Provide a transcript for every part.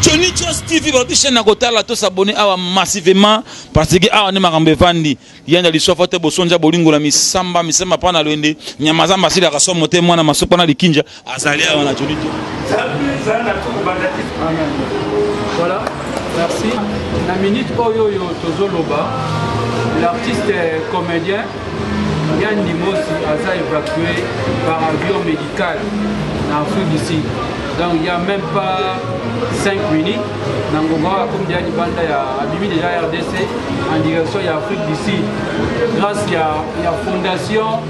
Johnny Jos TV balobi chaîne na kotala to s'abonner awa massivement parce que awa nde makambo evandi yanda liswafa te bosonja bolingola misamba misamba mpa na lwende nyama zamba asilaka somo te mwana masoko na likinja azali awa na Johnny Jos Voilà, merci. La minute oyo oyo tozoloba l'artiste comédien Yann Dimosi aza évacue par avion médical na Afrique du Sud. Donc il n'y a même pas 5 minutes, Nangoba comme déjà Libanda a abimi déjà RDC en direction de Afrique du Sud. Grâce à la fondation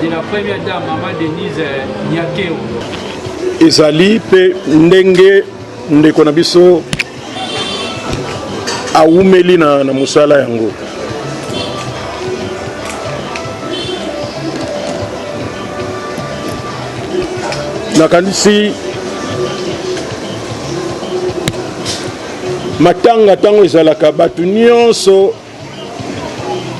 de la première dame, Maman Denise Nyakeo. ezali mpe ndenge ndeko na biso awumeli na, na mosala yango nakanisi matanga ntango ezalaka bato nyonso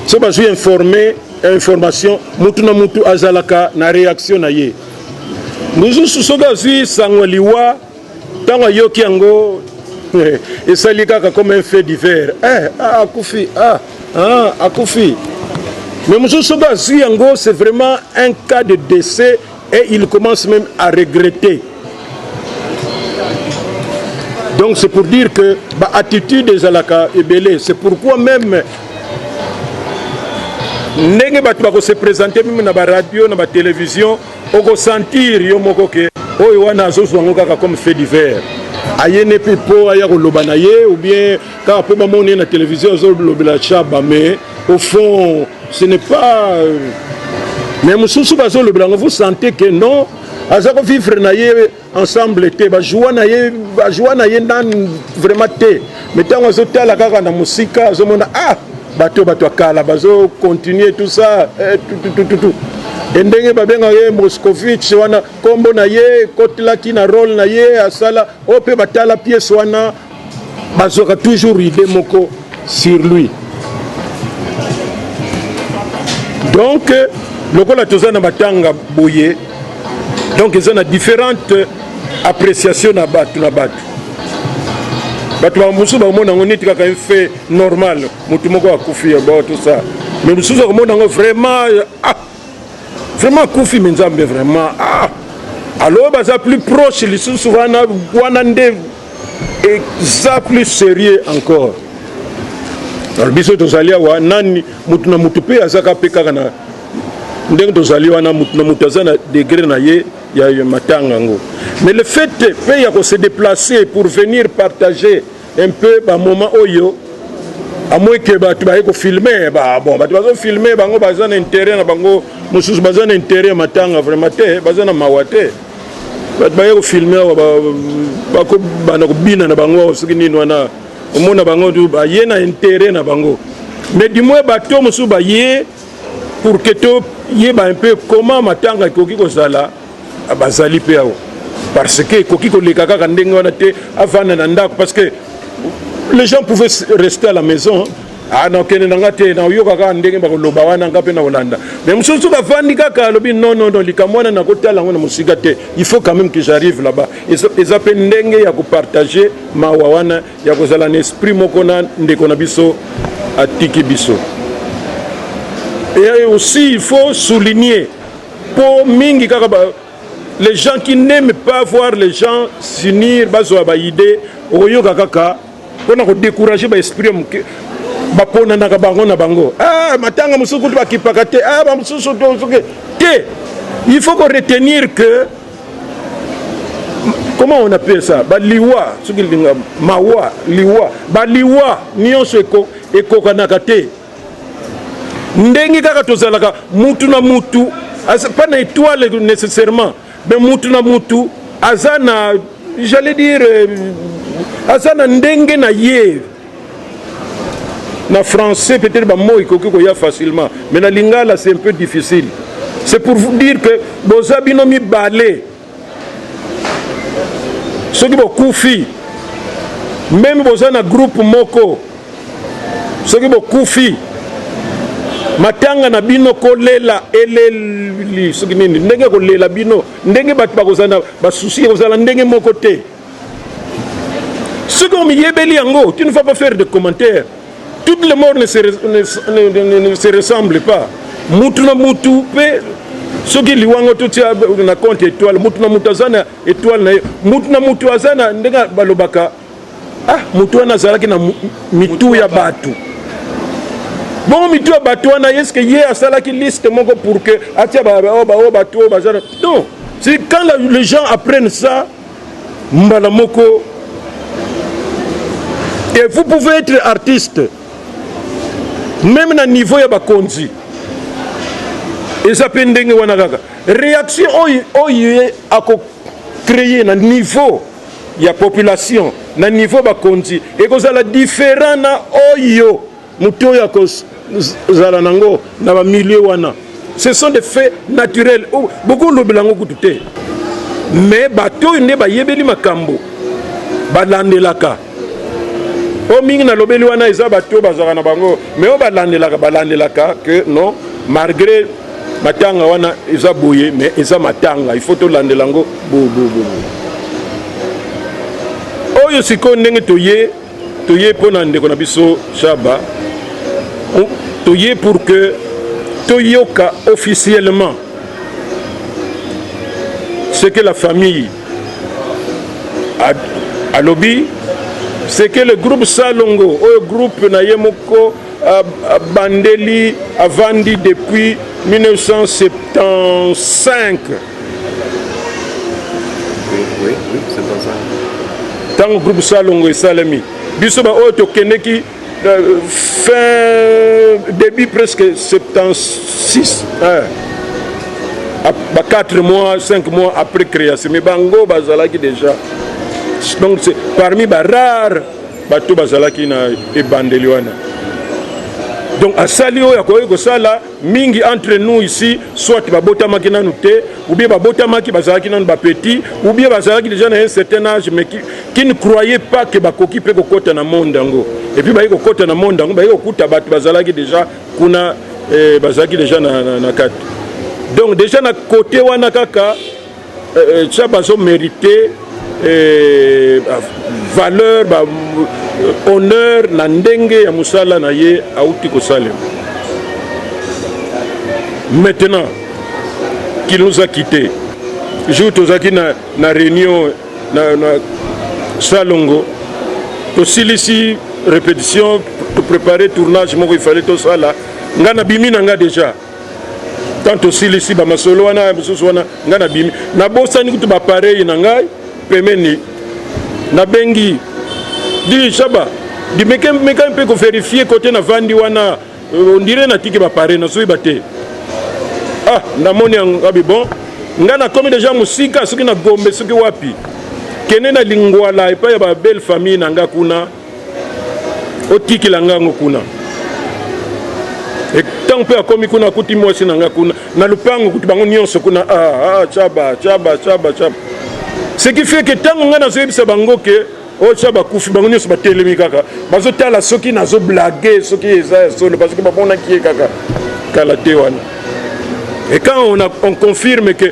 so bazwi informe information mutu na mutu azalaka na reaction na ye mosusu soki azwi sango liwa ntango ayoki yango esali kaka comme un fait divers eh, ah, akufi ah, ah, akufi mais mosusu soki azwi yango c'est vraiment un cas de décès et il commence même à regretter donc c'est pour dire que baattitude ezalaka ebele c'est pourquoi même ndenge bato bakose présente meme na baradio na batelevizio Oko sentir yo moko que oyo wana azo zwa ngo kaka comme fait divers. Aye ne pe po aya ko loba na ye ou bien kaka po ba moni ye na television azo lobela Chaba mais au fond ce n'est pas euh, mais mususu bazo lobela ngo vous sentez que non aza ko vivre na ye ensemble te bajoua na ye bajoua na ye nanu vraiment te mais ntango azotala kaka na mosika azomona ah bato bato ya kala bazo continue tout ça eh, tutututu e ndenge babengaka ye moscovitch wana nkombo na ye ekotelaki na role na ye asala oyo mpe batala piese wana bazwaka toujours idée moko sur lui donc lokola toza na matanga boye donc eza na différente appréciation na bato na bato bato bamosusu bakomona yango neti kaka efe normal motu moko akufi bato sa mais mosusu akomona yango vraiment ah, vraiment akufi me nzambe vraiment ah! alo baza plus proche lisusu wana wana nde eza plus sérieux encore alors biso tozali awa nani motu na motu mpe azaka mpe kaka na ndenge tozali wana motu na motu aza na degre na ye ya matanga yango mais le fait mpe ya kose déplacer pour venir partager un peu ba moment oyo amoi ke bato baye kofilme bon bato bazofilme bango baza na interet na bango mosusu baza na interet ya matanga vraiment te baza na mawa te bato baye kofilme awa bakobanda kobina na bango awa soki nini wana omona bango tu baye na interet na bango mais du moins bato mosusu baye pour que toyeba un peu comment matanga ekoki kozala Ah, bazali mpe awa parce que ekoki koleka kaka ndenge wana te avanda na ndako parce que les gens pouvaient rester à la maison ah, nakende na nga te nayoka kaka ndenge bakoloba wana nga mpe nakolanda mais mosusu bafandi kaka alobi non non non likambo wana nakotala yango na mosika te il faut quand même que j'arrive là-bas eza mpe ndenge ya kopartage mawa wana ya kozala na esprit moko na ndeko na biso atiki biso et aussi il faut souligner po mingi kaka ba les gens qui n'aiment pas voir les gens s'unir bazwa ba idée okoyoka kaka mpona kodécourage ba esprit ya moke baponanaka bango na bango ah, matanga mosusu kutu bakipaka te ah, bamosusu te il faut koretenir que comment on appelle ça baliwa soki linga mawa liwa baliwa nyonso ekokanaka te ndenge kaka tozalaka mutu na mutu pas na étoile nécessairement mais mutu na mutu aza na j'allais dire euh, aza na ndenge na ye na français peut-être bamo ekoki koya facilement mais na lingala c'est un peu difficile c'est pour vous dire que boza bino mibale soki bokufi meme boza na groupe moko soki bokufi matanga na bino kolela eleli soki nini ndenge kolela bino ndenge bato bakozala na basusi ekozala ndenge moko te soki omiyebeli yango tu ne vas pas faire de commentaire toutes les morts ne se, ne, ne, ne, ne se ressemble pas mutu na mutu mpe soki liwango totia na compte étoile mutu na mutu aza na étoile na ye mutu na mutu aza na ndenge balobaka ah mutu wana azalaki na mitu ya bato bongo mitu ya bato wana eske ye asalaki liste moko pour que atia baoyo bato oyo baza na non c'est quand les gens apprennent ça mbala moko et vous pouvez être artiste meme na niveau ya bakonzi eza mpe ndenge wana kaka réaction oyo oyo ye akocreye na niveau ya population na niveau bakonzi ekozala différent na oyo Moto oyo akozala nango na ba milieu wana ce sont des faits naturels oh, bokolobela yango kutu te mais bato oyo nde bayebeli makambo balandelaka oyo mingi nalobeli wana eza bato oyo bazalaka na bango mais oyo balandelaka balandelaka que non malgré matanga wana eza boye mais eza matanga il faut tolandela yango bobobobo oyo sikoyo ndenge toye toye mpo na ndeko na biso shaba toye pour que toyoka officiellement ce que la famille alobi ce que le groupe salongo oyo groupe na ye moko abandeli avandi depuis 1975 ntango groupe salongo esalemi biso baoyo tokendeki euh, fin début presque 76 hein. ba 4 mois 5 mois après création mais bango bazalaki déjà donc c'est parmi ba rare bato bazalaki na ebandeli wana donc asali oyo akoki kosala Mingi entre nous ici soit babotamaki nanu te ou bien babotamaki bazalaki nanu ba petit ou bien bazalaki déjà na un certain âge mais qui, qui ne croyait pas que bakoki pe kokota na monde yango et puis baye kokota na monde yango baye kokuta bato bazalaki déjà kuna eh, bazalaki déjà na, na, na kati donc déjà na kote wana kaka euh, ça bazo merite euh, valeur ba euh, honneur na ndenge ya mosala na ye auti kosalema maintenant qu'il nous a quitté jour tozalaki na, na réunion na, na salongo tosilisi répétition toprépare tournage moko ifale tosala ngai nabimi na ngai déjà Quand tosilisi ba masolo wana ya mosusu wana ngai nabimi nabosani kutu ba pareil na ngai pemeni nabengi di shaba dimeka meka mpe koverifie kote navandi wana euh, ondire natiki bapare nazoyeba te ah namoni yango abi bon ngai nakomi deja mosika soki na gombe soki wapi kende na lingwala epai ya babelle famille na ngai kuna otikela nga yango kuna ntango mpe akomi kuna akuti mwasi na nga kuna na lopango kutu bango nyonso kuna ah, ah, chaba chaba chaba chaba ce qui fait que ntango ngai nazoyebisa bango ke oyo oh, tia bakufi bango nyonso batelemi kaka bazotala soki nazoblage soki eza ya solo parceke bamonaki ye kaka kala te wana et quand on, a, on confirme que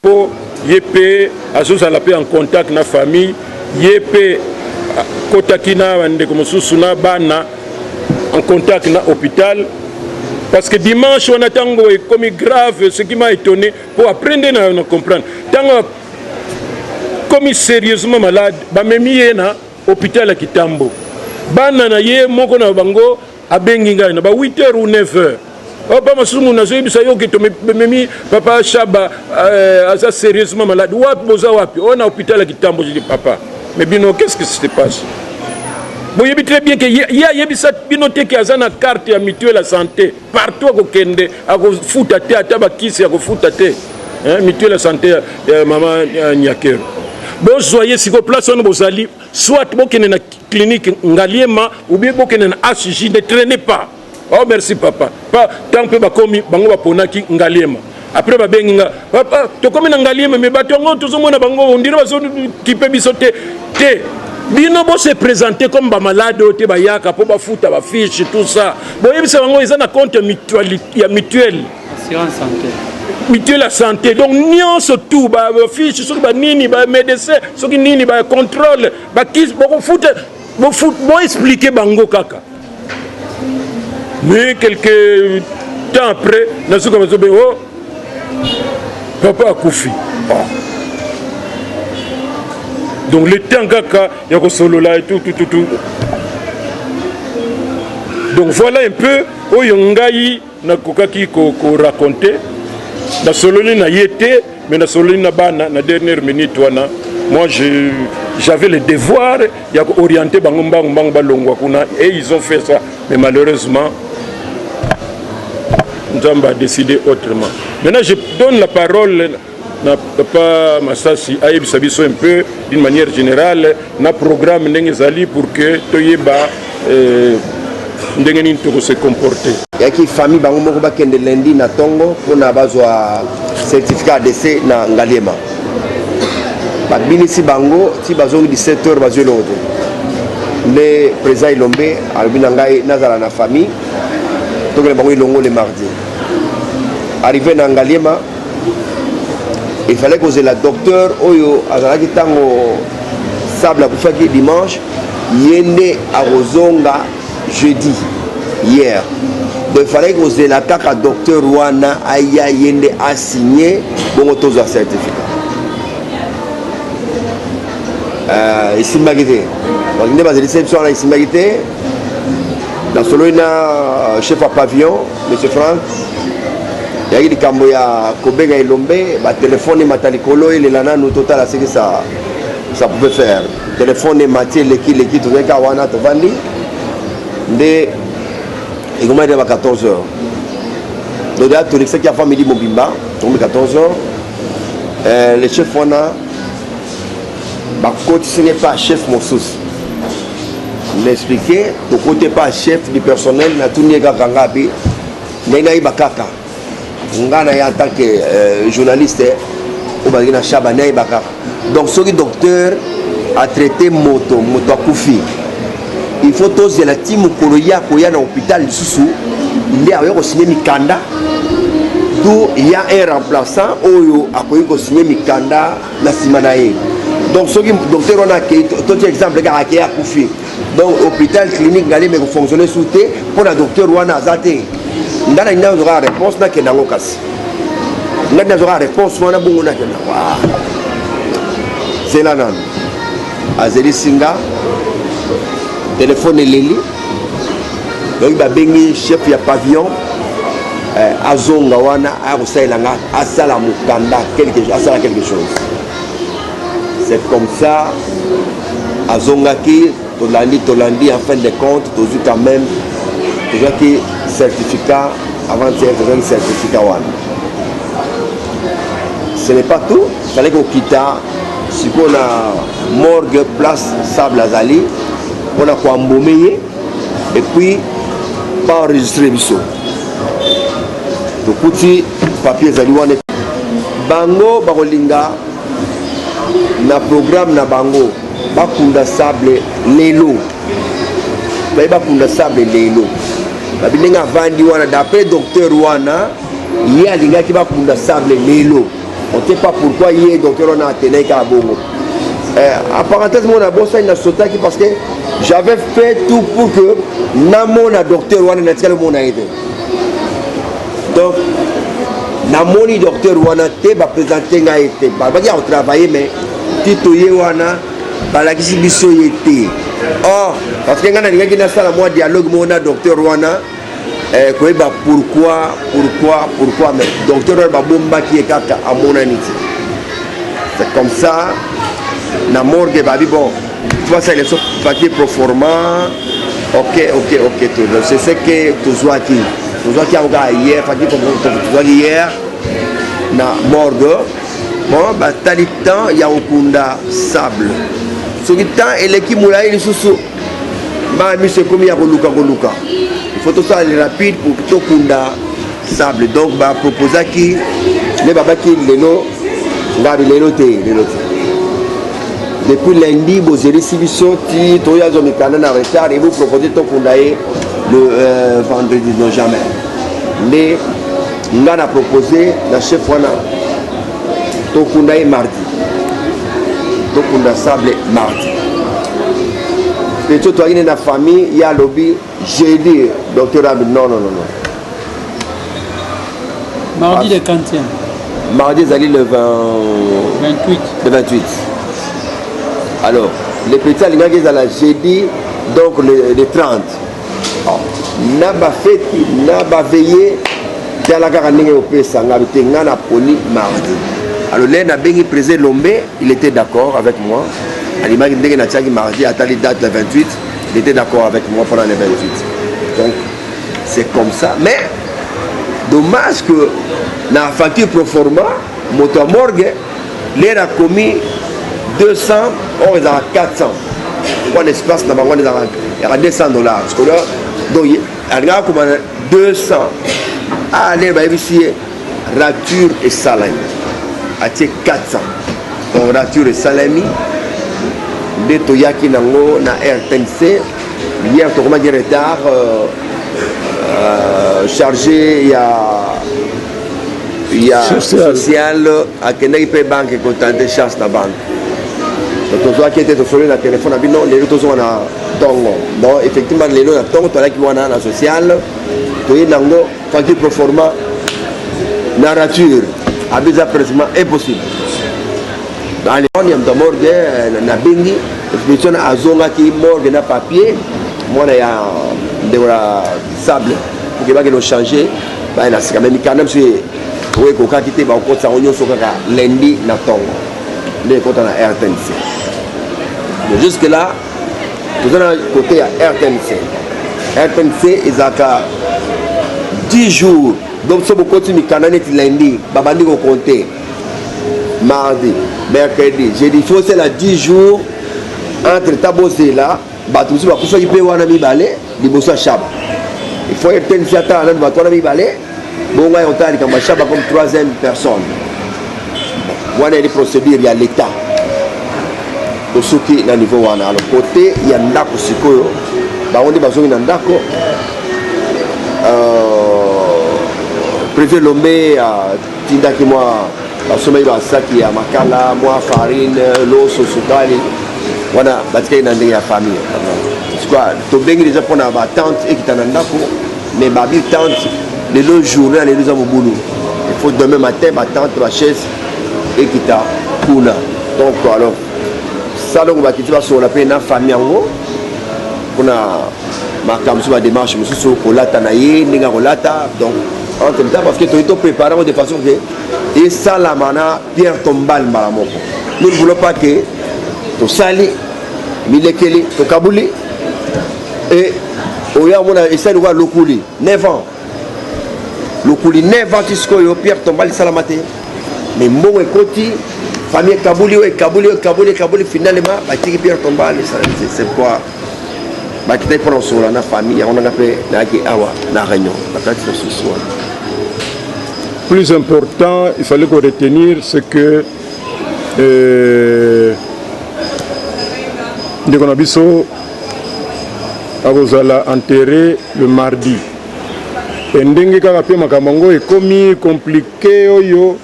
Po ye pe azo zala pe en contact na famille ye pe a kotaki na ba ndeko mosusu na bana en contact na hopital parce que dimanche wana tango ekomi grave ce qui m'a etone po après nde na na comprendre tango a komi serieusement malade ba memi ye na hopital ya kitambo bana na ye moko na bango abengi ngai na ba 8 heures ou 9 heures opa oh, mosusu munu azoyebisa yo ke tomemi papa shaba euh, aza sérieusement malade wapi boza wapi oyo oh, na hôpital ya kitambo jidi papa mais bino qu'est ce que se passe boyebi très bien ke ye ayebisa bino te ke aza na carte ya mutuelle ya santé partout akokende akofuta te ata bakisi akofuta te mutuelle ya santé ya mama nyakero bozwa ye siko place wana bozali Soit bokende na clinique Ngaliema ou bien bokende na HJ, ne traînez pas. Oh merci papa. Pa tant pe bakomi bango baponaki Ngaliema. Après babengi nga papa tokomi na Ngaliema mais bato yango tozomona bango on dirait bazo kipe biso te te bino bo se présenter comme ba malade oyo te bayaka mpo bafuta ba fiche tout ça boyebisa bango eza na compte ya mutuelle assurance santé mutuelle ya santé donc nyonso tout bafiche soki banini bamédecin soki nini bacontrôle bakisi bokofuta boexplike bango kaka mais quelque temps après nazoka bazobe o oh, papa akufi oh. donc le temps kaka ya kosolola etutututu donc voilà un peu oyo ngai Nakokaki ko ko raconter nasololi na ye te mais nasololi na bana na dernière minute wana moi je j'avais le devoir ya ko orienter bango mbangu mbangu balongwa kuna et ils ont fait ça mais malheureusement Nzambe a décidé autrement maintenant je donne la parole na papa masasi ayebisa biso un peu d'une manière générale na programme ndenge ezali pour que toyeba euh, ndenge nini tokose comporte yaki famille bango moko bakende lundi na ntongo mpona bazwa certificat ya dese na ngaliema babinisi bango ti bazongi 17 heures bazwi eloko te nde président elombe alobi na ngai nazala na famille tokende bango elongo le mardi arrivé na ngaliema il fallait kozela docteur oyo azalaki ntango sable akufaki dimanche ye nde akozonga jeudi hier donc il fallait kozela kaka docteur wana aya ye nde asigne bongo tozwa certificat euh, esimbaki te donc nde bazelisa biso wana esimbaki te nasololi na euh, chef ya pavillon monsieur frank yaki likambo ya kobenga elombe batelefone emata likolo elela nanu totala seki sa sa pouvait faire telefone emati eleki leki tozali kaka wana tovandi nde ekomaki nde ba 14 heures donc deja tolekisaki avant midi mobimba tokomi 14 heures euh, le chef wana bakotisi ngai pa chef mosusu naexplike tokote pa chef du personnel natuni ye kaka nga bi ndenge nayeba kaka nga na ye en tant que euh, journaliste oyo bazalaki na shaba nayeba kaka donc soki docteur atraite moto moto akufi il faut tozela ti mokolo ye akoya na hôpital lisusu nde akoya kosigne mikanda to ya un remplaçant oyo akoki kosigne mikanda na nsima na ye donc soki docteur wana akei toti exemple kaka akei akufi donc hôpital clinique ngali me kofonctionne su te mpo na docteur wana aza te nga na ngai nazokaka réponse nakenda yango kasi nga nazokaka réponse wana bongo nakenda yango ah. zela nanu azelisi nga telefone eleli donc babengi chef ya pavillon eh, azonga wana aya kosalela nga asala mokanda asala quelque chose c'est comme ça azongaki tolandi tolandi en fin de compte tozwi quand même tozwaki certificat avant-hier tozwaki certificat wana ce n'est pas tout fale kokita sikoyo na morgue place sable azali mpona koambome ye epuis baenregistre biso tokuti papier ezali wana bango bakolinga na programme na bango bakunda sable lelo baye bakunda sable lelo babi ndenge avandi wana d'après docteur wana ye alingaki bakunda sable lelo On sait pas pourquoi ye docteur wana atenai kaka bongo. Eh, en parenthèse mona abosani nasotaki parce que j'avais fait tout pour que namona docteur wana natikali omona ye te donc namoni docteur wana te bapresente ngai ye te balobaki ya kotravaille mais ti toye wana balakisi biso ye te or parce que ngai nalingaki nasala mwa dialogue moko na docteur wana eh, koyeba pourquoi pourquoi pourquoi mais docteur oyo babombaki ye kaka amonani ti c'est comme ça na morgue babi bon basala biso papier proforma ok ok ok tozo c'est ce que tozwaki tozwaki yango kaka hier papier tozwaki hier na morgue bon batali temps ya kokunda sable soki temps eleki molai lisusu mbala miso ekomi ya koluka koluka faut tosala le rapide pour tokunda sable donc baproposaki nde babaki lelo ngabi lelo te lelo te depuis lundi bozelisi biso ti toya azwa mikanda na retard ebo propose tokunda ye le euh, vendredi non jamais nde nga na propose na chef wana tokunda ye mardi tokunda sable mardi petio toyaki ne na famille ye alobi jeudi docteur abi non non non mardi le 40 mardi ezali le 20... 28 le 28 alors le petit alingaki ezala jeudi donc le, le 30 na bafeti na baveye tala kaka ndenge opesa nga te nga na poni mardi alors lene abengi président elombe il était d'accord avec moi alimaki ndenge natiaki mardi atali date le 28 il était d'accord avec moi pendant le 28 donc c'est comme ça mais dommage que na facture proforma moto ya morgue lere akomi 200 or ezalaka 400 wana espace na bango wana ezalaka yaka 200 dollars sikoyo donc alingaka koma 200 ah lere bayebisi ye rature esalami atie 400 donc rature esalami nde toyaki nango na rtnc hier tokomaki retard euh, euh, chargé ya ya social akendaki mpe banke kotante chance na banke tozwaki ete tosoli na telefone na bino lelo tozonga na ntongo donc effectivement lelo na ntongo toalaki wana na social toyebi yango faki proforma na rature abiza presement impossible alefone ya moto ya morgue na bengi exposition azongaki morgue na papier mwana ya ndeko na sable okebaki no changer baye na sika me mikanda biso ye oyo ekokaki te bakokotisa yango nyonso kaka lendi na ntongo nde ekota na rtnc jusque là toza na kote ya rtnc rtnc ezalaka 10 jours donc so bokoti mikanda neti lendi babandi kokonte mardi mercredi jeudi fosela 10 jours entre ta bozela bato mosusu bakufaki mpe wana mibale liboso ya shaba ifo etenisi ata nani bato wana mibale bongo ngai otala likambo ya shaba comme troisième personne wana eli procédure ya l'état tosuki na niveau wana alors kote ya ndako sikoyo bango nde bazongi na ndako euh, privé lombe tindaki mwa basombaki basaki ya makala mwa farine loso sukali wana batikaki na ndenge ya famille sikoa tobengi deja mpo na batente ekita na ndako mais babi tente lelo journée ya lelo eza mobulu il faut demain matin batente bachaise ekita kuna donc alors salongo bakiti basolola mpe na famille yango mpona makambo mosusu bademarche mosusu kolata na ye ndenge ya kolata donc entre temps parce que toyei toprépare yango de façon ke esalama na pierre tombale mbala moko nous ne voulons pas ke tosali milekeli tokabuli e oyo amona esali lokola lokuli 9 ans lokuli 9 ans ti sikoyo pierre tombale esalama te mais mbongo ekoti famille ekabuli oyo ekabuli oyo ekabuli ekabuli finalement batiki pierre tombale c'est pourquoi bakitaki mpona kosolola na famille yango nanga mpe nayaki awa na réunion na kati na susu wana plus important il fallait ko retenir c'est que euh, ndeko na biso akozala enterré le mardi e ndenge kaka mpe makambo yango ekomi komplike oyo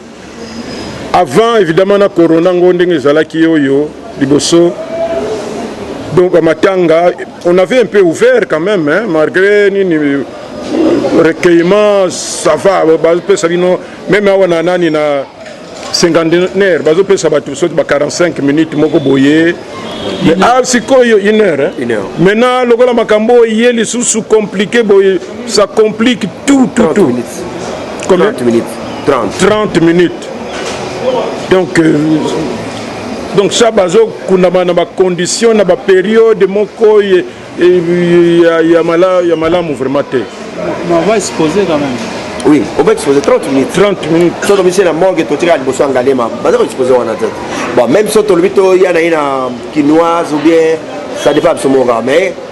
avant évidemment na corona ngo ndenge ezalaki oyo liboso donc à matanga on avait un peu ouvert quand même hein, malgré nini recueillement ça va bazopesa bino meme awa na nani na cinquantenaire bazopesa bato soki ba 45 minutes moko boye ah sikoyo une heure maintenant lokola makambo oyo ye lisusu compliqué boye Ça complique tout, tout, 30 tout. Minutes. Combien 30 minutes. 30. 30 minutes. Donc, euh, donc ça, bazo kundama na ba conditions, na ba période moko ya ya mala ya malamu vraiment te. Mais on va exposer quand même. Oui, on va exposer 30 minutes. 30 minutes. Sauf que monsieur la morgue to tira liboso angalema. Bazo ko exposer wana te. Bon, même sauf que le bito ya na ina kinoise ou bien ça dépend absolument mais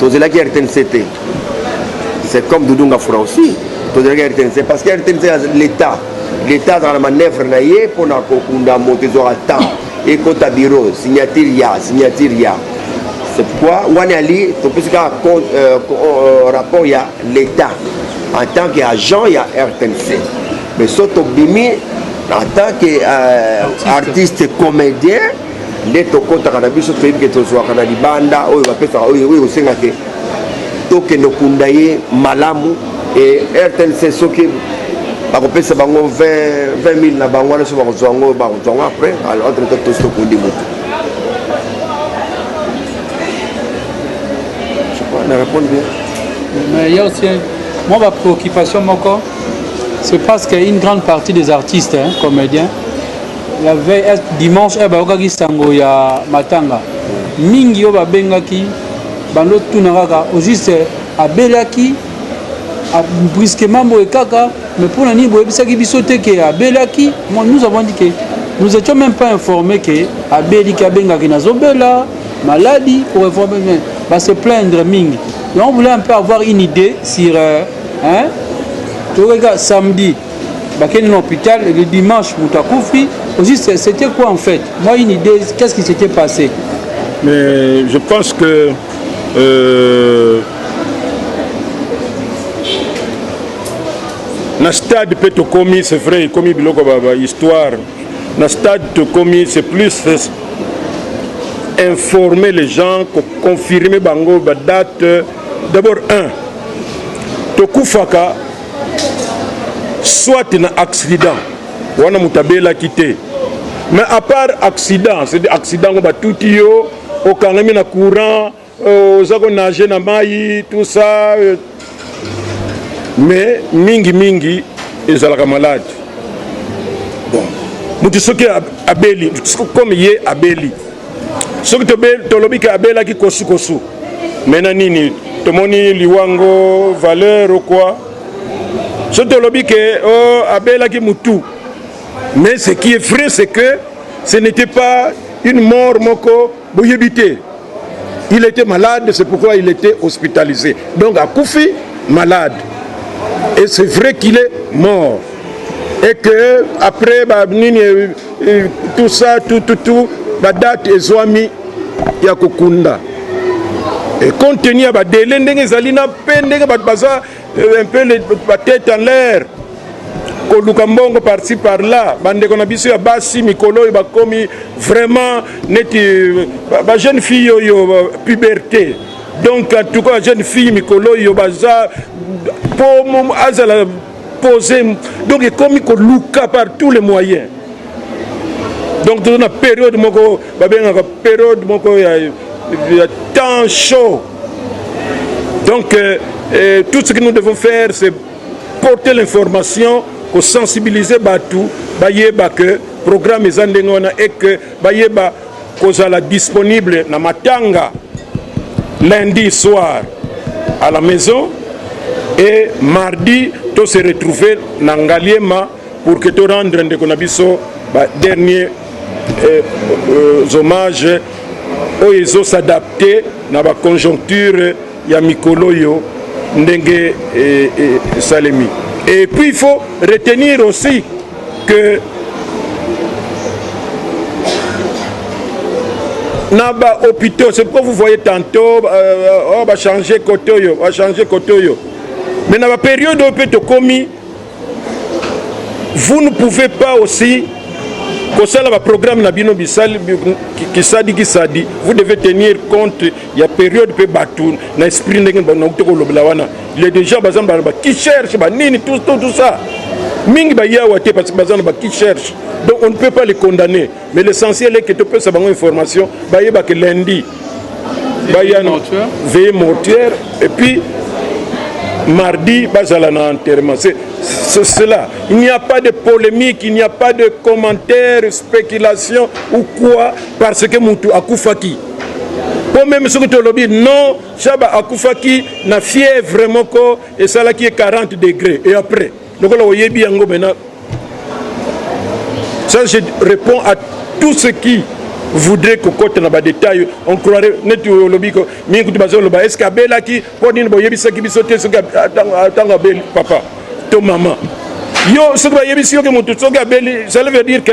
tozelaki rtnc te c'est comme doudou ngafura aussi tozelaki rtnc parce que rtnc ya l'état l'état azala na manœuvre na ye mpo na kokunda moto ezwaka temps ekota bureau signature ya signature ya c'est pourquoi wana ali topesi kaka euh, euh, rapport ya l'état en tant que agent ya rtnc mais so tobimi en tant que euh, artiste comédien nde tokotaka na biso toyebi ke tozwaka na libanda oyo bapesaka oyo ekosenga ke tokende okunda ye malamu e rtnc soki bakopesa bango 20 000 na bango wana so bakozwa yango bakozwa yango après alors entre temps tosi tokundi motu na répondre bien mais il y a aussi moi ma préoccupation moko c'est parce qu'une grande partie des artistes hein, comédiens la veille est dimanche eh, bayokaki sango ya matanga mingi oyo babengaki bando tuna kaka au juste abelaki brusquement boye kaka mais mpo na nini boyebisaki biso te ke abelaki nous avons dit ke nous étions même pas informé ke abeli ke abengaki nazobela maladi pour informer mais va se plaindre mingi donc on voulait un peu avoir une idée sur euh, hein, toyokaki samedi bakende na hopital le dimanche moto akufi aussi c'était quoi en fait moi une idée qu'est-ce qui s'était passé mais je pense que euh, na stade mpe tokomi c'est vrai ekomi biloko bahistoire ba na stade tokomi c'est plus informer les gens koconfirme bango badate d'abord un tokufaka soit na accident wana moto abelaki te mais à part accident c'est accident ngo batuti yo okangami na courant euh, oza konage na mai tout ça euh. mais mingi mingi ezalaka malade bon moto soki abeli comme ye abeli soki tolobi ke abelaki kosukosu me na nini tomoni liwango valeur okwa soki tolobi ke o oh, abelaki mutu mais ce qui est vrai c'est que ce n'était pas une mort moko boyebi te il était malade c'est pourquoi il était hospitalisé donc akufi malade et c'est vrai qu'il est mort et que après ba nini tout ça tout tout tout ba date ezwami ya kokunda et compte tenu ya ba délai ndenge ezali na pe ndenge bato baza euh, un peu ba tête en l'air koluka mbongo parti par là bandeko na biso ya basi mikolo oyo bakomi vraiment neti euh, bajeune fille oyo euh, puberté donc en tout cas bajeune fille mikolo oyo baza po azala pose donc ekomi koluka par tous les moyens donc toza na periode moko babengaka periode moko ya, ya temps chaud donc euh, euh, tout ce que nous devons faire c'est porter l'information kosensibiliser bato bayeba que programme eza ndenge wana et que Bayeba kozala disponible na matanga lundi soir à la maison et mardi to se retrouver na Ngaliema pour que to rendre ndeko na biso ba dernier eh, euh, hommage oyo ezo s'adapter na ba conjoncture ya mikolo oyo ndenge esalemi et puis il faut retenir aussi que na ba hôpitaux c'est pourquoi vous voyez tantôt euh, oh, bachanger côté oyo bachanger côté oyo mais na baperiode oyo mpe tokomi vous ne pouvez pas aussi kosala baprogramme na bino bisali kisadi kisadi vous devez tenir compte ya periode mpe bato na esprit ndenge nauti kolobela wana le déjà baza na bakicherche banini tout tout ça mingi baye awa te parce que baza na bakicherche donc on ne peut pas les condamner mais l'essentiel est que topesa bango information bayeba ke lundi baya veille mortuaire et puis mardi bazala na enterrement c'est cela il n'y a pas de polémique il n'y a pas de commentaire spéculation ou quoi parce que mutu akufaki mpo meme soki tolobi non shaba akufaki na fièvre moko esalaki ye 40 degré et après lokola oyebi yango maintenant ça je réponds à tout ce qui voudrait kokota na badetail on croirait neti olobi mingi kutu bazoloba estce abelaki mpo nini boyebisaki biso te soki ntango abeli papa to mama yo soki bayebisi yo ke motu soki abeli ça veut dire que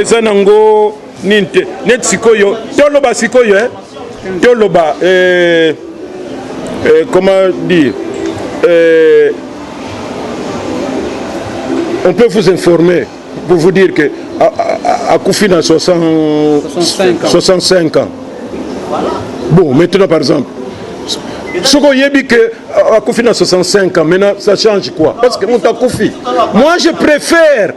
eza nango nini te neti sikoyo toloba sikoyo eh? toloba eh, eh, comment dire eh, on peut vous informer pour vous dire que akufi na 60, 65 ans, 65 ans. Voilà. bon maintenant par exemple soki oyebi ke akufi na 65 ans maintenant ça change quoi parce que moto akufi moi je préfère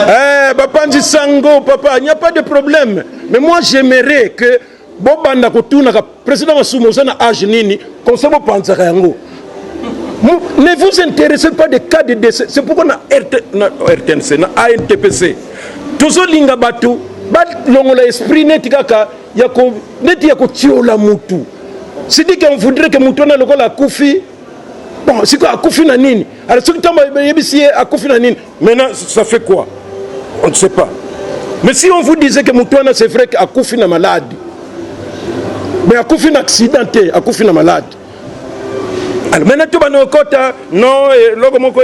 eh, bapanzi sango papa il n'y a pas de problème mais moi j'aimerais que bobanda kotunaka président masumu oza na age nini conseil bopanzaka yango ne vous intéressez pas de cas de décès c'est pourquoi na, RT, na rtnc na antpc tozolinga bato balongola esprit neti kaka ya ko neti ya kotiola mutu sidiki on voudrait que mutu wana lokola akufi bon sikoyo akufi na nini alors soki ntango bayebisi ye akufi na nini maintenant ça fait quoi on ne sait pas mais si on vous disait que mutu wana c'est vrai que akufi na malade mais akufi na accident te akufi na malade alors maintenant tobanda kokota non eloko moko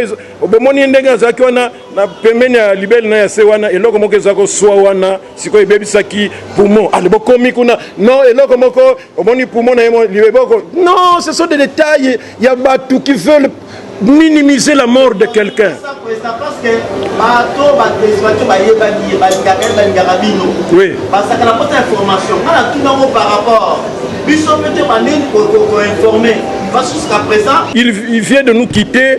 bomoni ndenge azalaki wana na pembeni ya libele na ya se wana eloko moko eza koswa wana sikoyo ebebisaki poumon ale ah, bokomi kuna non eloko moko omoni poumon na ye libeboko non ce sont des détails ya bato qui veulent minimiser la mort de quelqu'un oui biso mpe te bandeni koinforme va jusqu'à présent il vient de nous quitter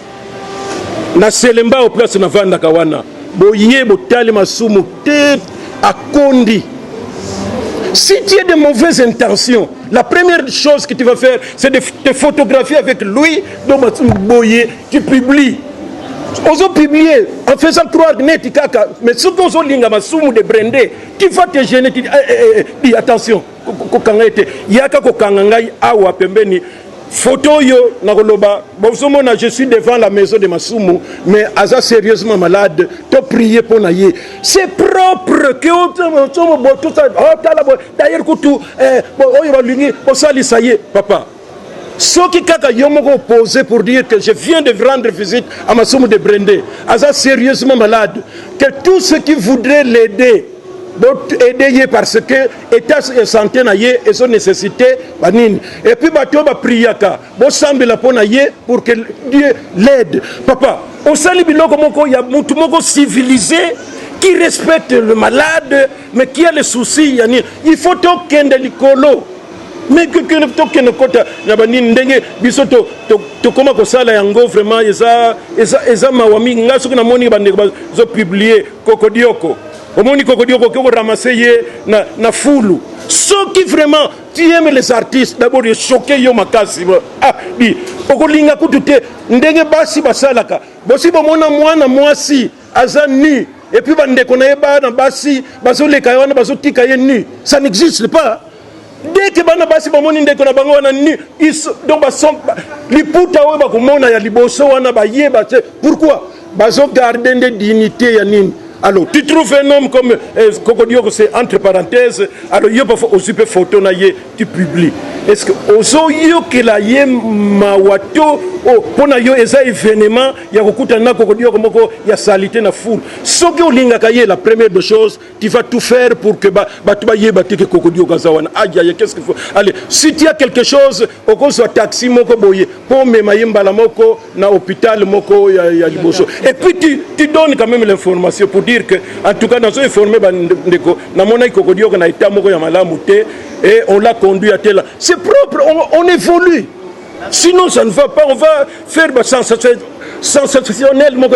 na selembao place navandaka wana boye botali masumu te akondi si tu es de mauvaises intentions la première chose que tu vas faire c'est de te photographier avec lui donc masumu boye tu publies ozo publier en faisant croire neti kaka mais soki ozolinga masumu de brende tu vas te gêner tu dis, eh, eh, eh, dis attention kokanga ye te yaka kokanga ngai awa pembeni foto oyo nakoloba bozomona je suis devant la maison de masumu mais aza sérieusement malade to prie mpo na ye c'est propre ke otala d'ailleurs kutu eh, oyo balingi kosalisa ye papa Soki kaka yo moko opose pour dire que je viens de rendre visite à Masumu de Brende, aza sérieusement malade, que tout ce qui voudrait l'aider aider ye parce que état ya santé na ye ezo nécessité banini et puis bato oyo bapriaka bosambela mpo na ye pour que dieu l'aide papa osali biloko moko ya motu moko civilisé qui respecte le malade mais qui a le souci ya nini il faut tokende likolo mais tokende kota na banini ndenge biso tokoma kosala yango vraiment eza, eza, eza mawa mingi ngai soki namoni bandeko bazopiblie kokodioko omoni kokodioko okoki koramase ye na, na fulu soki vraiment tu aimes les artistes d'abord echoke yo makasi ah, di okolinga kutu te ndenge basi basalaka bosi bomona mwana mwasi aza nu et puis bandeko na ye bana basi bazoleka ye wana bazotika ye nu ça n'existe pas dès que bana basi bamoni ndeko na bango wana nu donc bason liputa oyo bakomona ya liboso wana bayeba te pourquoi bazogarde nde dignité ya nini alors tu trouves un homme comme eh, kokodioko c'est entre parenthèse alors yo bafa ozupe photo na ye tu publie est ce que ozoyokela ye mawa to oh, mpo na yo eza evenement ya kokutana na kokodi yoko moko ya salite na foule soki olingaka ye la première de chose tu vas tout faire pour que bato bayeba te ke kokodi yoko aza wana ajaye qu'est ce qu'il faut allez si tu as quelque chose okozwa taxi moko boye mpo omema ye mbala moko na hôpital moko ya, ya liboso et puis tu, tu donnes quand même l'information pour dire que en tout cas nazo informer bandeko namonaki kokodioka na état moko ya malamu te et on l'a conduit à tela c'est propre on, on évolue sinon ça ne va pas on va faire ba sensationnel moko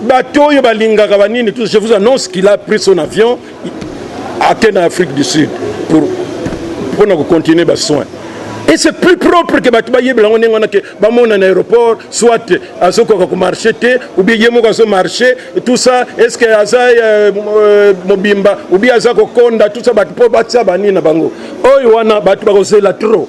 bato oyo balingaka banini tout je vous annonce qu'il a pris son avion ake na afrique du sud pour mpo na kocontinue basoin et c'est plus propre ke bato bayebela yango ndenge wana ke bamona na aéroport soit azokoka komarche te oubien ye moko azomarche tout ça est ce que aza euh, euh, mobimba oubien aza kokonda tout ça bato mpo batia banini na bango oyo wana bato bakozela trop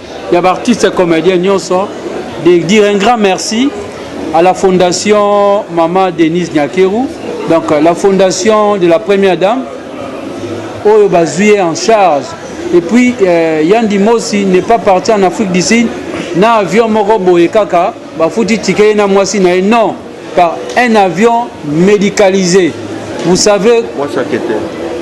ya ba artistes comediens nyonso de dire un grand merci à la fondation Mama Denise Nyakeru donc la fondation de la première dame oyo bazwi ye en charge et puis euh, Yandi Mosi n'est pas parti en Afrique du Sud na avion moko boye kaka bafuti tike ye na mwasi na ye non par un avion médicalisé vous savez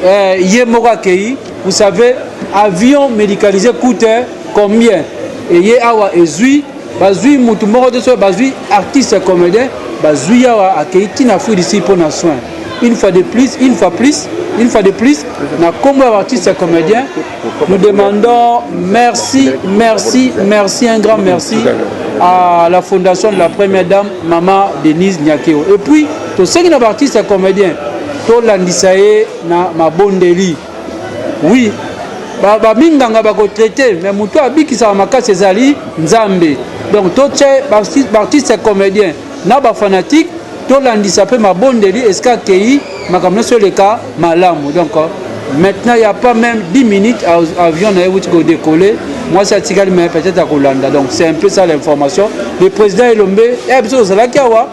euh, ye moko akei vous savez avion médicalisé coûte combien eye awa ezwi bazwi motu moko te soki bazwi artiste comédien bazwi awa akei ti na afrique du sud mpo na soin une fois de plus une fois plus une fois de plus na nkombo ya baartiste comédien Nous demandons merci, merci, merci, un grand merci à la fondation de la première dame, Mama Denise Nyakeo. Et puis, tous ceux qui sont artistes et comédiens, tous les na mabondeli. Oui, baminganga bakotraite mais moto abikisaka makasi ezali nzambe donc totye baartiste comédien na ba fanatique tolandisa pe mabondeli esika akeyi makambo nionso eleka malamu donc maintenant ya pas meme 10 minutes avion na ye wuti ko decoller mwasi atikali mais peut-être akolanda donc c'est un peu ça l'information le président elombe ya eh, biso tozalaki awa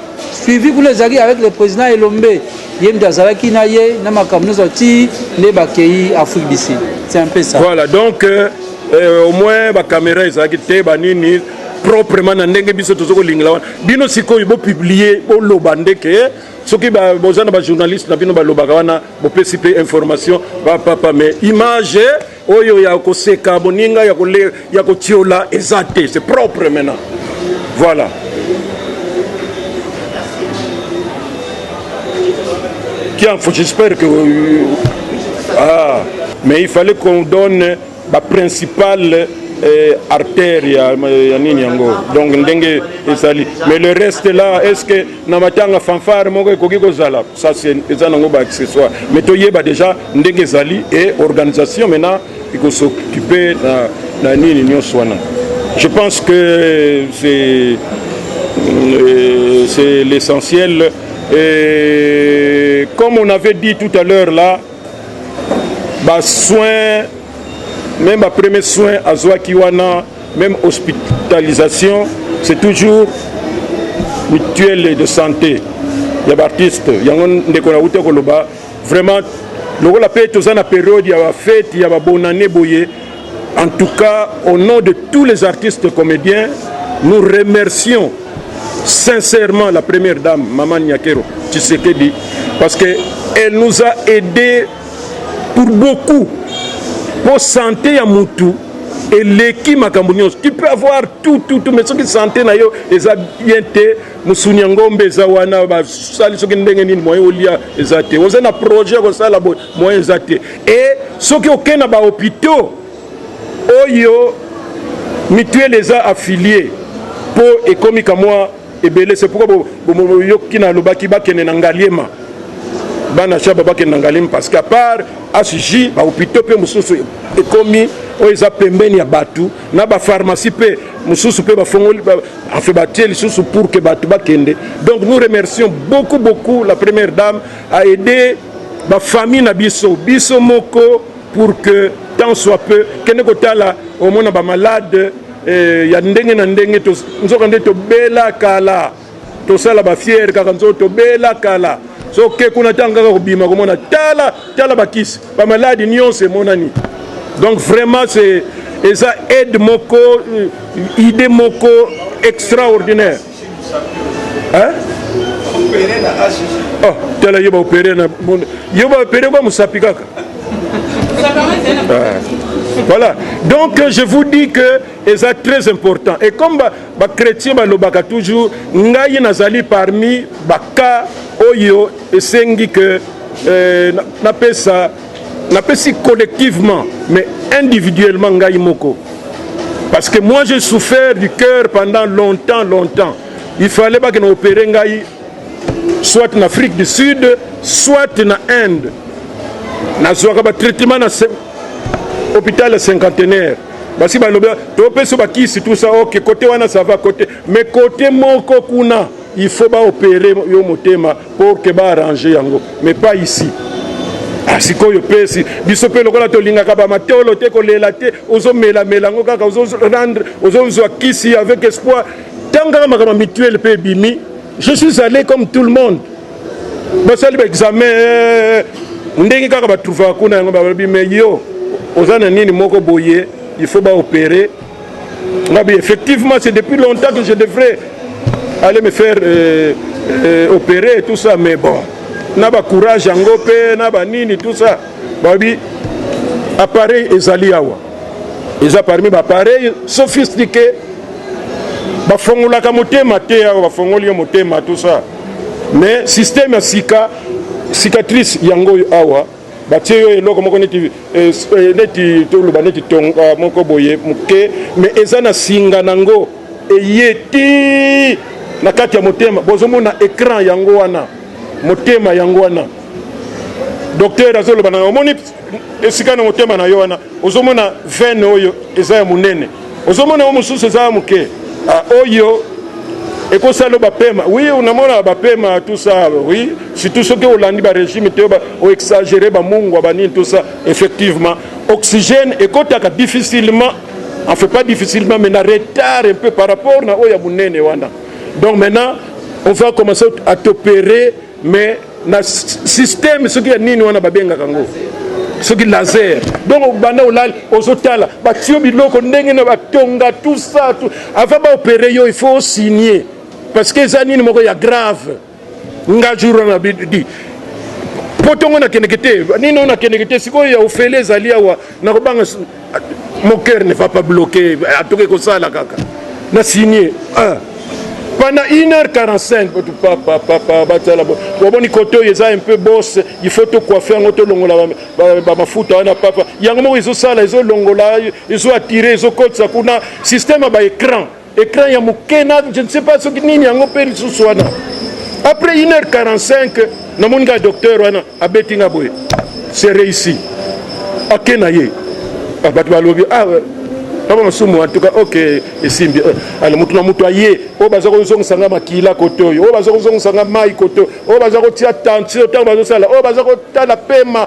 suivi kuna ezalaki avec le président elombe ye moto azalaki na ye na makambo nyonso ti nde bakei afrique du sud c'est un peu ça voilà donc euh, euh au moins bacaméra ezalaki te banini proprement na ndenge biso tozo kolingela wana bino sikoyo bopublie boloba nde ke eh, soki boza na bajournaliste na bino balobaka wana bopesi mpe information bapapa mais image eh, oyo ya koseka boninga ya kotiola eza te c'est propre maintenant voilà kianfo j'espère que euh, ah mais il fallait qu'on donne ba principale eh, artère ya, ya nini yango donc ndenge ezali mais le reste là est ce que na matanga fanfare moko ekoki kozala ça eza nango ba accessoire mais toyeba déjà ndenge ezali et organisation maintenant ekosokipe na, na nini nyonso wana je pense que c'est euh, c'est l'essentiel et comme on avait dit tout à l'heure là ba soins même ba premier soins azwaki wana même hospitalisation c'est toujours mutuelle de santé ya baartiste yango ndeko na uta koloba vraiment lokola mpe toza na periode ya bafeti ya babonane boye En tout cas, au nom de tous les artistes comédiens, nous remercions sincèrement la première dame, Maman Nyakero Tshisekedi, parce qu'elle nous a aidés pour beaucoup. Pour santé à Moutou, et leki makambo nyonso tu peux avoir tout tout tout mais soki santé na yo eza bien te mosuni ya ngombe eza wana basali soki ndenge nini moyen olia eza te oza na projet ya kosala boye moyen eza te Et soki oke na ba hopitaux oyo mutuelle eza affilier po ekomi kamwa ebele c'est pourquoi yoki na lobaki bakende na ngaliema bana shaba bakende na ngaliema parce qu'à part HJ ba hopitaux pe mosusu ekomi oyo eza pembeni ya bato na ba pharmacie pe mosusu pe bafongoli enfin batie lisusu pour que bato bakende donc nous remercions beaucoup beaucoup la première dame a aide ba famille na biso biso moko pour que tant soit peu kende kotala omona ba malade eh, ya ndenge na ndenge nzoka nde tobela kala tosala ba fiere kaka nzoka tobela kala soke kuna ntango kaka kobima komona tala tala bakisi bamaladi nyonso emonani donc vraiment c'est eza aide moko euh, idée moko extraordinaire Hein? Oh, tala yo baopere na monde yo baopere kwa mosapi kaka ah. voilà donc je vous dis que eza très important et comme bachrétien ba balobaka toujours ngai nazali parmi baka oyo esengi que euh, napesa na napesi collectivement mais individuellement ngai moko parce que moi j'ai souffert du cœur pendant longtemps longtemps il fallait bakende opere ngai soit na afrique du sud soit na inde nazwaka batraitement na hôpital ya cinquantenaire basi balobi topesi bakisi tout ça ok kote wana ça va kote mais kote moko kuna Il faut ba opere yo motema pour que ba arranger yango mais pas ici. Ah, sikoyo pesi biso mpe lokola tolingaka bamatolo te kolela te ozomelamela yango kaka ozorendre ozozwa kisi avec espoir ntango kaka makambo ya mituele mpe ebimi je suis allé comme tout le monde basali baexamen eh, ndenge kaka batrouvaka kuna yango balobi me yo oza na nini moko boye il faut baopere Ngabi, effectivement, c'est depuis longtemps que je devrais aller me faire euh, euh, opérer et tout ça, mais bon, na ba courage yango pe na ba nini tout ça. Babi appareil ezali awa. Eza parmi ba appareil sophistiqué. Bafongolaka motema te awa bafongoli yo motema tout ça. Mais système ya sika cicatrice yango awa batie yo eloko moko neti eh, eh, neti toloba neti tonga moko boye moke me eza na singa nango eye ti na kati ya motema bozomona ecran yango wana motema yango wana docteur azoloba na yo omoni esika na motema na yo wana ozomona vene oyo eza ya monene ozomona yo mosusu eza ya moke ah, oyo ekosala bapema wi unamona bapema tusa wi surtout soki olandi barégime te oexagere bamungwa banini tusa effectivement oxygène ekotaka difficilement en fait pas difficilement mais na retard un peu par rapport na oyo ya monene wana donc maintenant on va commencer à t'opérer mais na système soki ya nini wana babengaka yango soki laser donc obanda olali ozotala batiyo biloko ndenge na batonga tout ça tout avant baopere yo il faut osigne parce que eza nini moko ya grave nga jour wana bidi mpo ntongo nakendeke te nini oyo nakendeke te sikoyo ya ofele ezali awa nakobanga mon cœur ne va pas bloquer atoke kosala kaka na signe ah. pendant 1h45 batu papa papa batala boboni kote oyo eza un peu bosse il faut tokoife yango tolongola bamafuta wana papa yango moko ezosala ezolongola ezoattire ezokotisa kuna système ya baécran Ecran ya moke na je ne sais pas soki nini yango mpe lisusu wana après 1 heure 45 namoni ngai docteur wana abeti nga boye c'est réussi ake na ye ah, bato balobi ah, kama masumu en tout cas ok esimbi euh, ala motu na motu aye oyo baza kozongisa nga makila kote oyo oyo baza kozongisa nga mai kote oyo baza kotia tension ntango bazosala oyo baza kotala pema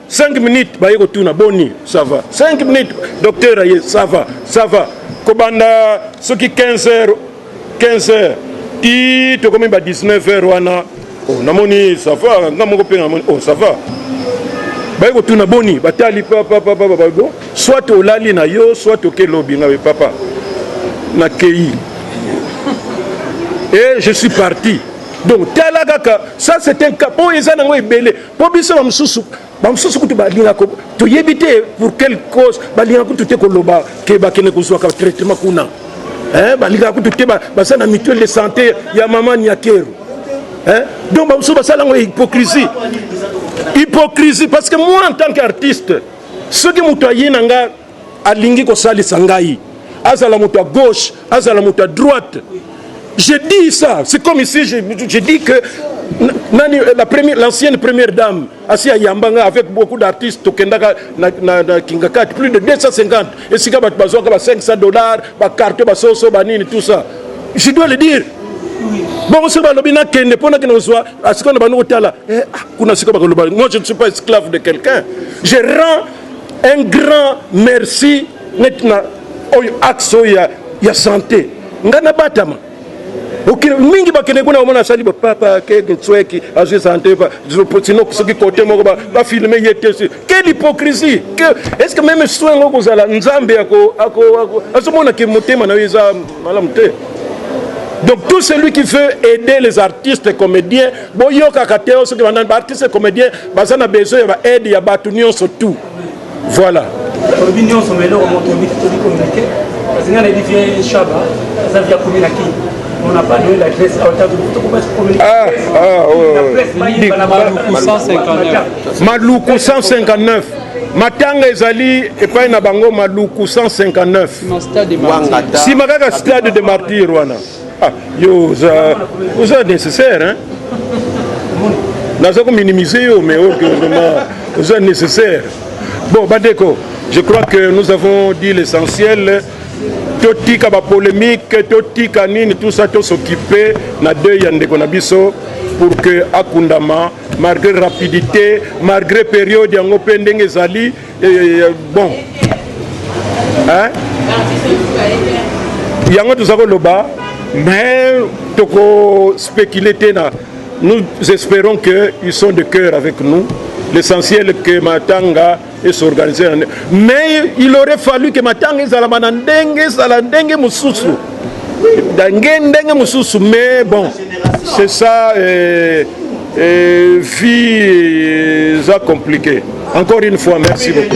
5 minutes baye kotuna boni ça va 5 minutes docteur aye ça va ça va kobanda soki 15 heures 15 heures ti tokomi ba 19 heures wana oh, namoni ça va nga moko mpe namoni oh ça va baye kotuna boni batali papapapapabo soit olali na yo soit oke lobi nga papa nakei et je suis parti donc tala kaka ça c'est un cas oyo eza nango ebele Po biso ba mususu ba mususu kutu balinga ko toyebi te pour quelle cause balinga kutu te koloba ke bakende kozwaka traitement kuna eh, balingaka kutu te baza na mutuelle de santé ya mama niakeru eh? donc bamosusu basala yango ya hypocrisie hypocrisie parce que moi en tant qu'artiste soki moto aye na nga alingi kosalisa ngai azala moto ya gauche azala moto ya droite je dis ça c'est comme ici je, je dis que nani la première l'ancienne première dame asi ayamba ngai avec beaucoup d'artistes tokendaka na, na, na kingakati plus de 250 esika bato bazwaka ba 500 dollars bacarte basoso banini tout ça je dois le dire bongo soki balobi nakende mpo nakende kozwa asikoyo na bandi kotala eh, ah, kuna sikoyo bakoloba moi je ne suis pas esclave de quelqu'un je rends Un grand merci net na oyo axe oyo ya, ya sante nga nabatama mingi bakende kuna omona asali papa kekintsweki azwi sante sino soki kote moko bafilme ye te quelle hypocrisie est ce que meme soin yango kozala nzambe azomona ke motema na yo eza malamu te donc tout celui qui veut aider les artistes comédiens Boyokaka te soki ba nani ba artistes comediens baza na besoin ya ba aide ya bato nyonso tout voilà olobi nyonso ma eloko moto oyebi tobi communiqué parce nga nayebi vie shaba aza vie akomi na kini on n'a pas donné l'adresse à Otago tokobasi communiqué ah ah ouais maluku 159 matanga ezali epai na bango maluku 159 nsima kaka stade de martyr wana Ah, yo oza oza nécessaire hein naza ko minimiser yo mais oyo oh, vraiment oza nécessaire bon bandeko je crois que nous avons dit l'essentiel totika bapolémike totika nini tout ça tosokipe na deuil ya ndeko na biso pour que akundama malgré rapidité malgré période yango mpe ndenge ezali eh, bon hein? yango toza koloba mais toko spéculer te na nous espérons que ils sont de cœur avec nous l'essentiel que matanga esorganise mais il aurait fallu que matanga ezalama na ndenge ezala ndenge mosusu ndenge ndenge mosusu mais bon c'est ça euh, Et vie eza compliqué. Encore une fois, merci beaucoup.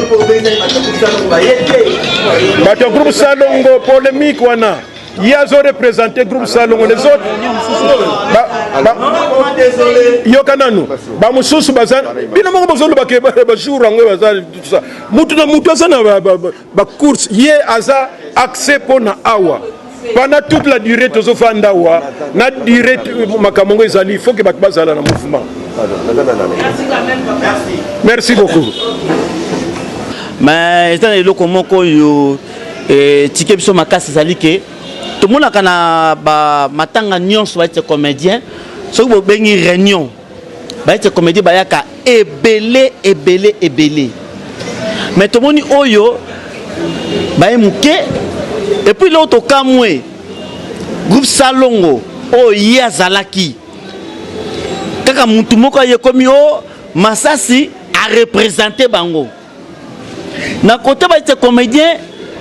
Bato groupe Salongo polémique wana. Ye azo représenter groupe Salongo les autres. Ba, ba, yoka nanu bamosusu baza bino moko bozoloba ke bajour yango baza mutu na mutu aza na ba course ye aza accès pona awa pendant toute la durée tozofanda awa na durée makambo yango ezali il faut ke bato bazala na mouvement merci beaucoup mais eza na eloko moko oyo etike eh, biso makasi ezali ke tomonaka na bamatanga nyonso baite comédien soki bobengi réunion bayete komedi bayaka ebele ebele ebele me tomoni oyo baye moke epuis leo tokamwe groupe salongo oyo ye azalaki kaka mutu moko ayekomi o oh, masasi arepresente bango na kota ba ete comedien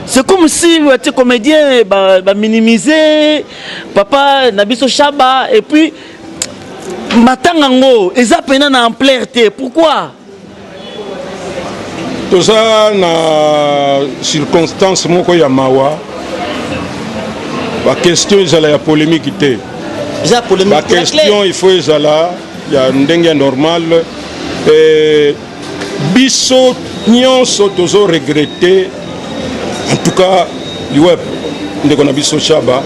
c'est comme si batie comédien baminimize ba papa na biso shaba et puis matanga yango eza mpena na ampleur te pourquoi toza na circonstance moko ya mawa baquestion ezala ya polémique te baquestion il faut ezala ya ndenge ya normale Biso nionso tozo regretter en tout cas liweb ndeko na biso Shaba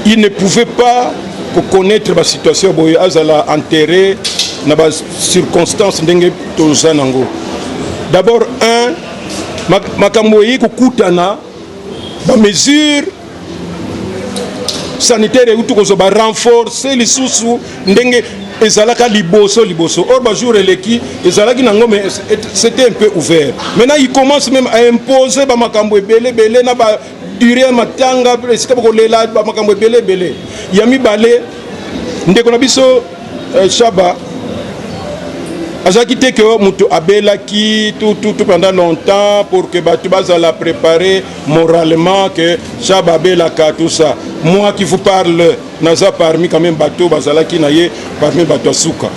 il ne pouvait pas ko connaître ba situation boye azala enterré na ba circonstances ndenge toza nango d'abord un makambo eye kokutana ba mesures sanitaire euti kozwa renforce lisusu ndenge ezalaka liboso liboso or bajour eleki ezalaki na ngome c'était un peu ouvert maintenant il commence même à imposer bamakambo ebele ebele na ba dure ya matanga esika bakolela bamakambo ebele ebele ya mibale ndeko na biso Eh, Shaba azalaki te ke moto abelaki tout tout tout pendant longtemps pour que bato bazala préparer moralement que Shaba abelaka tout ça. Moi qui vous parle naza parmi quand même bato bazalaki na ye parmi bato ya suka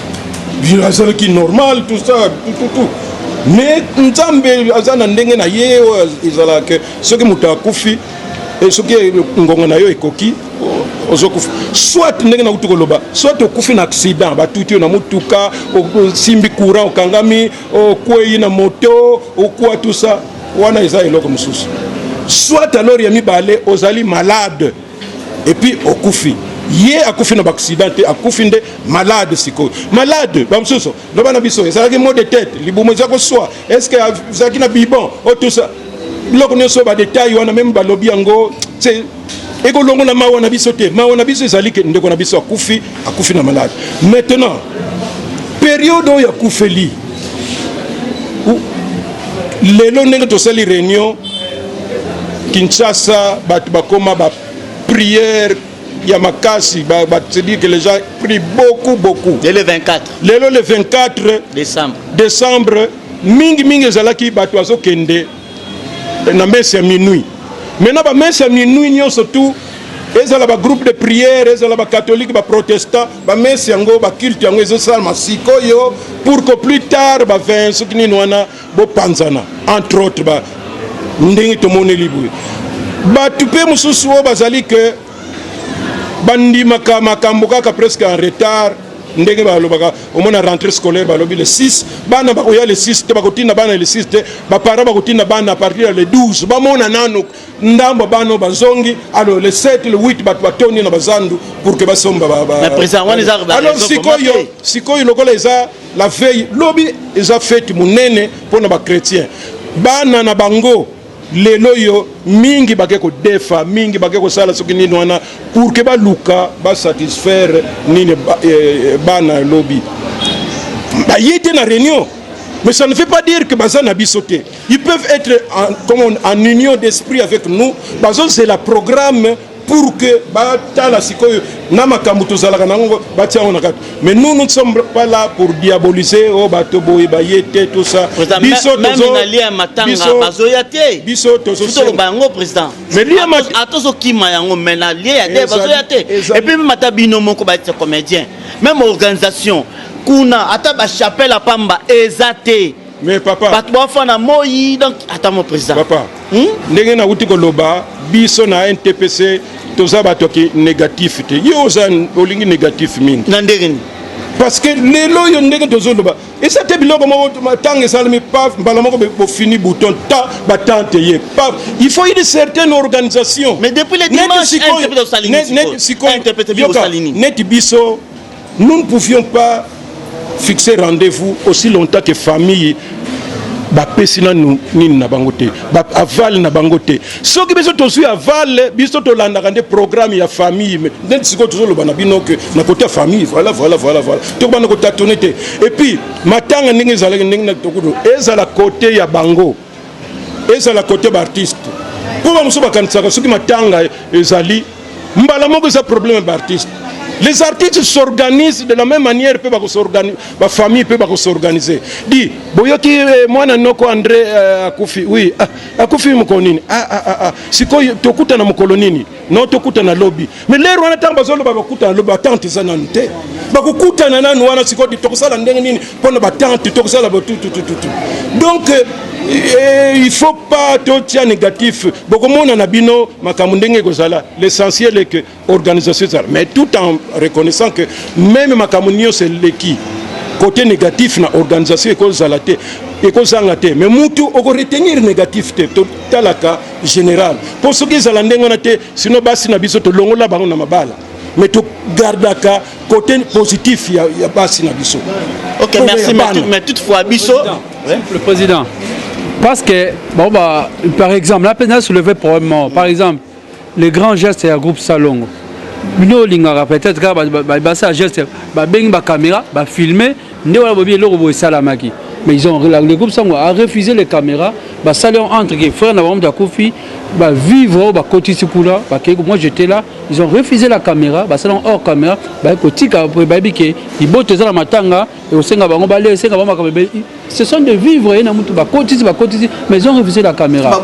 azalaki normal tout ça tout tout tout mais nzambe aza na ndenge na ye oyo ezalaka soki moto akufi e soki ngongo na yo ekoki ozokufa soit ndenge nakuti koloba soit okufi na accident batuti yo na motuka osimbi courant okangami okwei na moto okwa tusa wana eza eloko mosusu soit alors ya mibale ozali malade epuis okufi ye akufi na baaccident te akufi nde malade sikoyo malade bamosusu loba na biso ezalaki mot de tete libumu eza koswa estce ezalaki na bibon o tout ça biloko nyonso badetail wana meme balobi yango se ekolongola mawa na biso te mawa na biso ezali ke ndeko na biso akufi akufi na malade maintenant periode oyo akufeli lelo ndenge tosali réunion kinshasa bato bakoma bapriere ya makasi ba, ba, c'est dire que les gens pris beaucoup beaucoup le 24 lelo le 24 décembre décembre mingi mingi ezalaki bato azokende na messe ya minuit maintenant ba messe ya minuit nyonso tout ezala ba groupe de prière ezala ba catholique ba protestant ba messe yango ba culte yango ezosalama sikoyo pour que plus tard ba 20 soki nini wana bopanzana entre autres ba ndenge tomoneli boye bato mpe mosusu oyo bazali ke bandimaka makambo kaka presque en retard ndenge balobaka omona rentrée scolaire balobi le 6 bana bakoya le 6 te bakotinda bana le 6 te baparent bakotinda bana à partir ya le 12 bamona nanu ndambo bana bazongi alors le 7 le 8 bato batondi na bazandu pour que basomba alors sikoyo sikoyo lokola eza la veille lobi eza fete monene mpo na bachrétien bana na bango lelo oyo mingi bake kodefa mingi bake kosala soki nini wana pour ke baluka basatisfaire nini eh, eh, bana ya lobi baye te na réunion mais ça ne veut pas dire que baza na biso te ils peuvent être en, comme on, en union d'esprit avec nous bazozela programme pour que batala sikoyo na makambo tozalaka na yango batia yango na kati mais nous nous ne sommes pas là pour diaboliser o oh, bato boye baye te tout ça biso tozoya te biso tozoloba yango président atozokima yango mais na lie ya te bazoya te epuis meme ata bino moko baete comédien meme organisation kuna ata bachapelle ya pamba eza te mais papa bato bafa na moi donc ata mo président papa hmm? ndenge nauti koloba biso na ntpc toza bato ki négatif te yo oza olingi négatif mingi na ndenge nini parce que lelo oyo ndenge tozoloba eza te biloko moko ntango esalami paf mbala moko bofini bouton ta batante ye paf il faut une certaine organisation mais depuis le dimanche neti biso Nous ne pouvions pas fixer rendez-vous aussi longtemps que famille bapesi nanu nini na bango te avale na bango te soki biso tozwi avale biso tolandaka nde programme ya famille nde sikoyo tozoloba na bino ke na kote ya famille voilà voilà voilà voilà tokobanda kotatone te epuis matanga ndenge ezalaki ndenge na tokudo ezala kote ya bango ezala kote baartiste mpo bamosusu bakanisaka soki matanga ezali mbala moko eza problème ya baartiste les artistes s'organisent de la même manière mpe bafamille mpe bakosorganize di boyoki eh, mwana noko andré eh, akufi wi ah, akufi mokolo nini ah, ah, sikoyo tokutana mokolo nini no tokutana lobi mais lere wana ntango bazoloba bakutana lobi batante eza nanu te bakokutana nanu wana sikoyo tokosala ndenge nini mpo na batante tokosala botututututu donc euh, euh, il faut pas totia négatif bokomona na bino makambo ndenge ekozala l'essentiel est que organisation ezala mais tout en reconnaissant que meme makambo nyonso eleki côté négatif na organisation ekozala te ekozanga te mais mutu okoretenir négatif te totalaka general mpo soki ezala ndenge wana te sino basi na biso tolongola bango na mabala mais togardaka côté positif ya, ya basi na biso ok merci mais toutefois biso le président parce que bon bah par exemple là peine soulever problème par exemple les grands gestes ya groupe salongo bino olingaka peut-être kaka basala geste babengi bacaméra bafilme nde wana bobi eloko boye esalamaki mais ils ont le groupe sango a refusé les caméras basali yango entre que frère na bango moto akufi bavivre oyo bakotisi kuna bakei moi j'étais là ils ont refusé la caméra basali yango hors caméra baye kotika mpo bayebi ke liboto eza na matanga ekosenga bango balia esenga bango makambo ebeli ce sont de vivre ye na motu bakotisi bakotisi mais ils ont refusé la caméra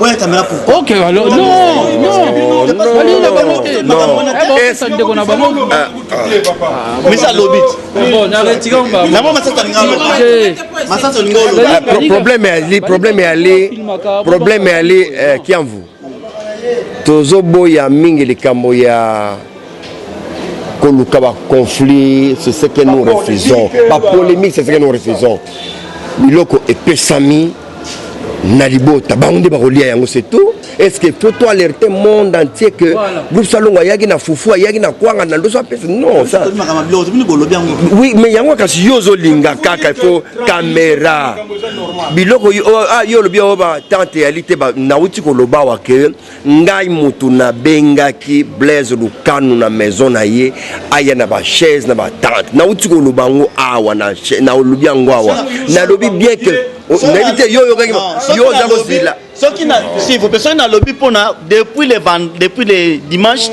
ok alors non non balingi na bango te ndeko na bango mais ça lobit problème ali problème ali problème ali eh, kiamvu tozoboya mingi likambo ya koluka baconflit c'est ce que nous refusons bapolémique c'est ce que nous refusons biloko epesami na libota bango nde bakolia yango c'est tout est ce que faut to alerter monde entier que voilà. groupe salongo ayaki na fufu ayaki na kwanga na ndoso apesa non ça oui mais yango kasi yo ozolinga kaka ifo kamera biloko yo, oh, ah, yo olobi oyo oh, batante yali te nauti koloba wa ke Ngai mutu na bengaki Blaise Lukanu na maison na ye aya na ba chaise na ba tente na uti ko loba ngo awa na na lobi ngo awa na lobi bien que na te yo yo kaki yo za ko zila soki na si vous personne na lobi pona depuis le depuis le dimanche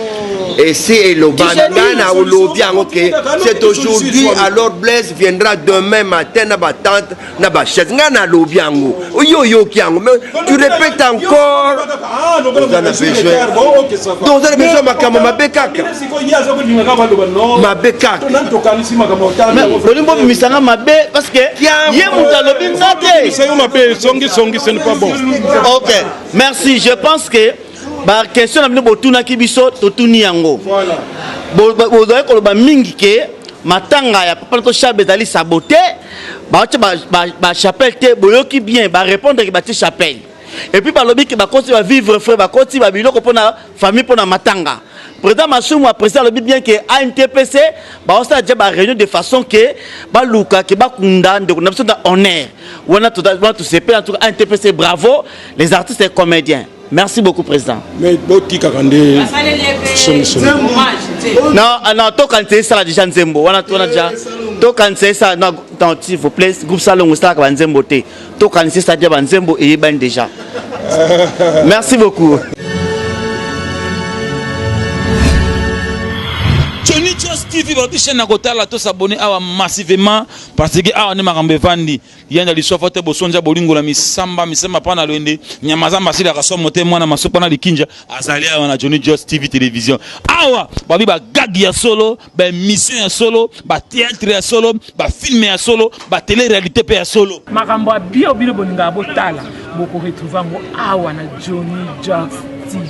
esi eloba ngai na olobi yango ke c'est aujourd'hui alors blaise viendra demain matin na batante na ba chaise ngai nalobi yango yo oyoki yango mais tu répète encore oza na besoin donc oza na besoin ya makambo mabe kaka mabe kaka olingi bobimisa nga mabe parce que ye moto alobi nga te mabe songisongi ce n'est pas bon ok merci je pense que baquestion na bino botunaki biso totuni yango bozali koloba mingi ke matanga ya papa na to shabe ezali sabote batie ba, ba, ba chapelle te boyoki bien barépondre ke batie chapelle epuis balobi ke bakoti bavivre frais bakoti babiloko mpo na famille mpo na matanga président masumu aprésident alobi bien ke antpc baosala deja baréunion de façon ke baluka ke bakunda ndeko na biso na honneur wana tosepela ntuka antpc bravo les artistes et comédiens Merci beaucoup président. Mais botikaka nde somisoni. Non, ah, non, tokanisa esala déjà nzembo wana tona déjà tokanisa esala non, non, s'il vous plaît groupe salongo esalaka banzembo te tokanisa esala déjà banzembo eyebani déjà. Merci beaucoup. Johnny Joss TV bato chaîne na kotala to s'abonner awa massivement parce que awa nde makambo evandi yanda liswafa te bosonja bolingo na misamba misamba pana lwende nyama za masili akasomo te mwana masupa na likinja azali awa na Johnny Just TV television awa babi ba gag ya solo ba emission ya solo ba théâtre ya solo ba film ya solo ba télé réalité pe ya solo makambo ya bio bino bolingaka botala boko retrouve yango awa na Johnny Just TV